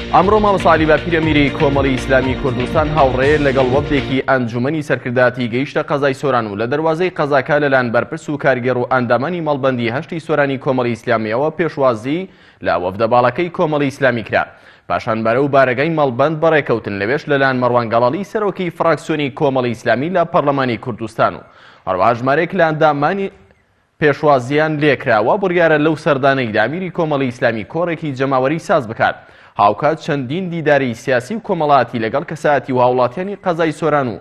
ئەمڕۆ مامۆستا عەلی باپیرە میری کۆمەڵی ئیسلامی کوردستان هاوڕێ لەگەڵ وەفدێکی ئەنجومەنی سەرکردایەتی گەیشتە قەزای سۆران و لە دەروازەی قەزاکە لەلایەن بەرپرس و کارگێڕ و ئەندامانی مەڵبەندی هەشتی سۆرانی کۆمەڵی ئیسلامیەوە پێشوازی لە وەفدە باڵەکەی کۆمەڵی ئیسلامی کرا پاشان بەرە و بارەگای مەڵبەند بەڕێکەوتن لەوێش لەلایەن مەڕوان گەڵاڵی سەرۆکی فراکسیۆنی کۆمەڵی ئیسلامی لە پەرلەمانی کوردستان و هەروەها ژمارێک لە ئەندامانی پێشوازییان لێکرا، وا بڕیارە لەو سەردانەیدا میری کۆمەڵی ئیسلامی کۆڕێکی جەماوەری ساز بکات، هاوکات چەندین دیداری سیاسی و کۆمەڵاتی لەگەڵ کەسایەتی و هاوڵاتیانی قەزای سۆران و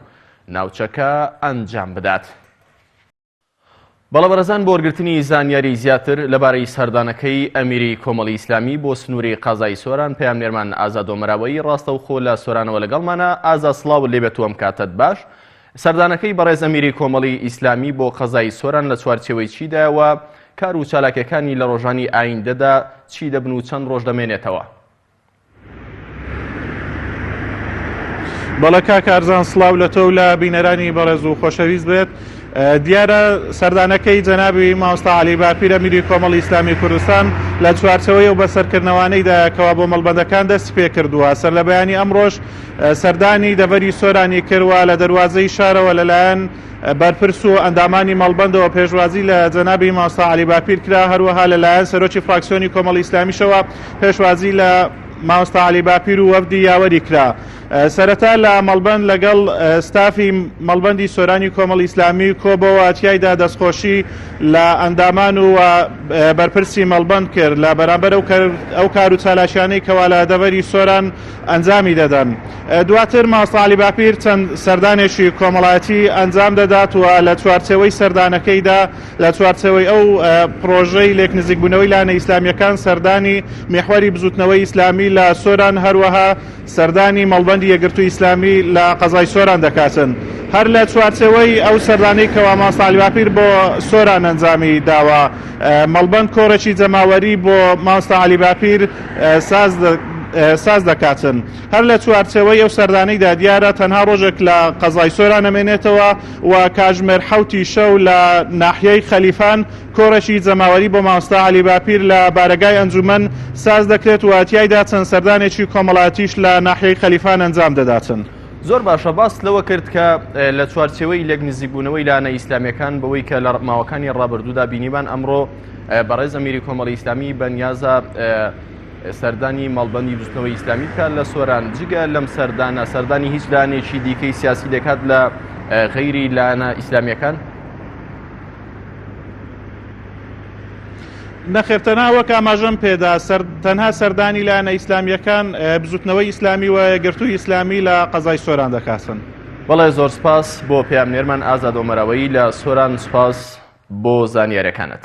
ناوچەکە ئەنجام بدات. بەڵێبەرزان بۆ وەرگرتنی زانیاری زیاتر لەبارەی سەردانەکەی ئەمیری کۆمەڵی ئیسلامی بۆ سنووری قازای سۆران پەیامنێرمان ئازادۆمەراوەی ڕاستەوخۆ لە سۆرانەوە لەگەڵمانە ئازا سڵاو لێبێت و ئەم کاتەت باش سەردانەکەی بەڕێز ئەمیری کۆمەڵی ئیسلامی بۆ قەزای سۆران لە چوارچێوەی چیدایە و کار و چالاکیەکانی لە ڕۆژانی ئایندەدا چی دەبن و چەند ڕۆژ دەمێنێتەوە؟ بەڵە کا کارزان سلااو لە تۆ و لە بینەرانی بەڕێز و خۆشەویست بێت دیارە سەردانەکەی جەنابی ماوستا علی باپیرە میری کۆمەڵ ئیسلامی کوردستان لە چوارچەوەی و بەسەرکردنەوانەیداکەوە بۆ مەڵبەندەکان دەست پێ کردووە سەر لە بەیانی ئەمڕۆژ سەردانی دەڤەری سۆرانی کرد و لە دەروازەی شارەوە لەلایەن بەرپرس و ئەندامانی مەڵبەندەوە پێشوازی لە جەنابی مامۆستا عەلی باپیر کرا، هەروەها لەلایەن سەرۆکی فراکسیۆنی کۆمەڵی ئیسلامیشەوە پێشوازی لە مامۆستا عەلی باپیر و وەفدی یاوەری کرا. سەرەتا لە مەڵبەند لەگەڵ ستافی مەڵبەندی سۆرانی کۆمەڵی ئیسلامی کۆبەوە، تیایدا دەستخۆشی لە ئەندامان و بەرپرسی مەڵبەند کرد لە بەرامبەر ئەو کار و چالاکیانەی کەوا لە دەڤەری سۆران ئەنجامی دەدەن. دواتر ماست عەلی باپیر چەند سەردانێکی کۆمەڵایەتی ئەنجام دەدات و لە چوارچێوەی سەردانەکەیدا لە چوارچێوەی ئەو پڕۆژەی لێک نزیکبوونەوەی لایەنە ئیسلامییەکان سەردانی میحوەری بزووتنەوەی ئیسلامی لە سۆران هەروەها سەردانی مەڵبەندی یەکگرتووی ئیسلامی لە قەزای سۆران دەکاتن هەر لە چوارچێوەی ئەو سەردانەی کەوا ماست عەلی باپیر بۆ سۆران ئەنجامی داوە مەڵبەند کۆڕێکی جەماوەری بۆ ماست عەلی باپیر ساز دەکاتن. هەر لە چوارچێوەی ئەو سەردانەیدا دیارە تەنها ڕۆژێک لە قەزای سۆران ئەمێنێتەوە و کاژمێر حەوت ی شەو لە ناحیەی خەلیفان کۆڕێکی جەماوەری بۆ مامۆستا عەلی باپیر لە بارەگای ئەنجومەن ساز دەکرێت و تیایدا چەند سەردانێکی کۆمەڵاتیش لە ناحیەی خەلیفان ئەنجام دەداتن. زۆر باشە، باست لەوە کرد کە لە چوارچێوەی لێک نزیکبوونەوەی لایەنە ئیسلامیەکان بەوەی کە لە ماوەکانی ڕابردوودا بینیمان ئەمڕۆ، بەڕێز ئەمیری کۆمەڵی ئیسلامی بەنیازە سەردانی مەڵبندی دوستنەوەی ئیسلامی بکات لە سۆران جگە لەم سەردانە سەردانی هیچ لانێکی دیکەی سیاسی دەکات لە غەیری لایەنە ئیسلامیەکان نەخێر تەنها وەک ئاماژەم پێدا تەنها سەردانی لایەنە ئیسلامیەکان بزوتنەوەی ئیسلامی و گرتووی ئیسلامی لە قەزای سۆران دەکاتن بەڵێ زۆر سپاس بۆ پێم نێرمان ئازادۆمەرەوەی لە سۆران سپاس بۆ زانیارەکانت